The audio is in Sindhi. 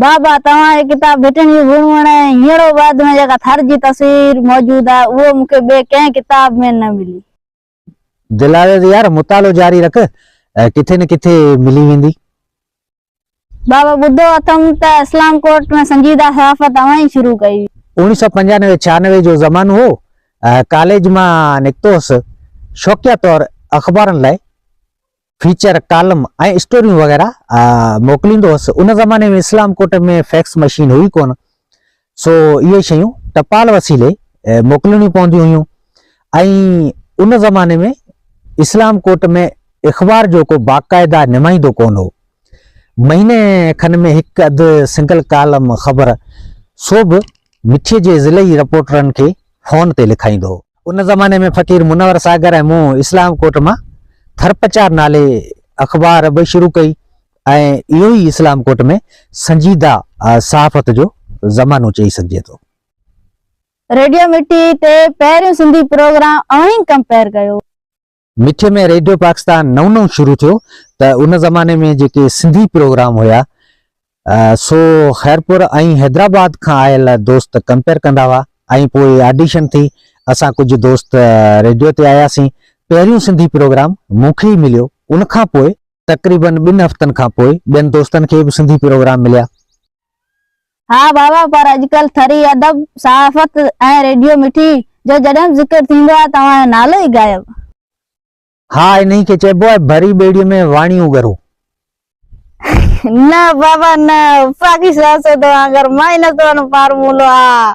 بابا توهان جي ڪتاب ڀٽڻي ڀونئڻ ۽ هينئڙو آباد ۾ جيڪا ٿر جي تصوير موجود آهي اهو مون کي ٻئي ڪنهن ڪتاب ۾ نه ملي. دلاليل يار مطالعو جاري رک ڪٿي نه ڪٿي ملي ويندي. بابا ٻڌو اٿم ته اسلام ڪوٽ ۾ سنجيده صحافت اوهان ئي شروع ڪئي هئي. اوڻي سؤ پنجانوي ڇهانوي جو زمانو هو ڪاليج مان نڪتو هوس شوقيه طور اخبارن لاء فيچر، ڪالم ۽ اسٽوريون وغيره موڪليندو هوس. ان زماني ۾ اسلام ڪوٽ ۾ فيڪس مشين هئي ڪونه سو اهي شيون ٽپال وسيلي موڪلڻيون پونديون هيون ۽ ان زماني ۾ اسلام ڪوٽ ۾ اخبار جو ڪو باقاعده نمائندو ڪونه هو. مهيني کن ۾ هڪ اڌ سنگل ڪالم خبر سو به مٺي جي ضلعي رپورٽرن کي فون تي لکائيندو هو. ان زماني ۾ فقير منور ساگر ۽ مون اسلام ڪوٽ مان ٿرپچار نالي اخبار به شروع ڪئي ۽ اهو ئي اسلام ڪوٽ ۾ سنجيده صحافت جو زمانو چئي سگهجي ٿو. ريڊيو مٺي تي پهريون سنڌي پروگرام اوهين ڪمپيئر ڪيو. مٺي ۾ ريڊيو پاڪستان نئون نئون شروع ٿيو ته ان زماني ۾ جيڪي سنڌي پروگرام هيا سو خيرپور ۽ حيدرآباد کان آيل دوست ڪمپيئر ڪندا هئا ۽ پوء آڊيشن ٿي اسان ڪجهه دوست ريڊيو تي آياسين پهريون سنڌي پروگرام مون کي ئي مليو ان کان پوء تقريبن ٻن هفتن کان پوء ٻين دوستن کي به سنڌي پروگرام مليا. ها بابا پر اڄڪلهه ٿري ادب، صحافت ۽ ريڊيو مٺي جو جڏهن به ذڪر ٿيندو آهي توهان جو نالو ئي غائب. ها انهي کي چئبو آهي ڀري ٻيڙي ۾ واڻيون ڳرو. نه بابا نه وفاقي سياست وانگر مائنس ون فارمولو آ.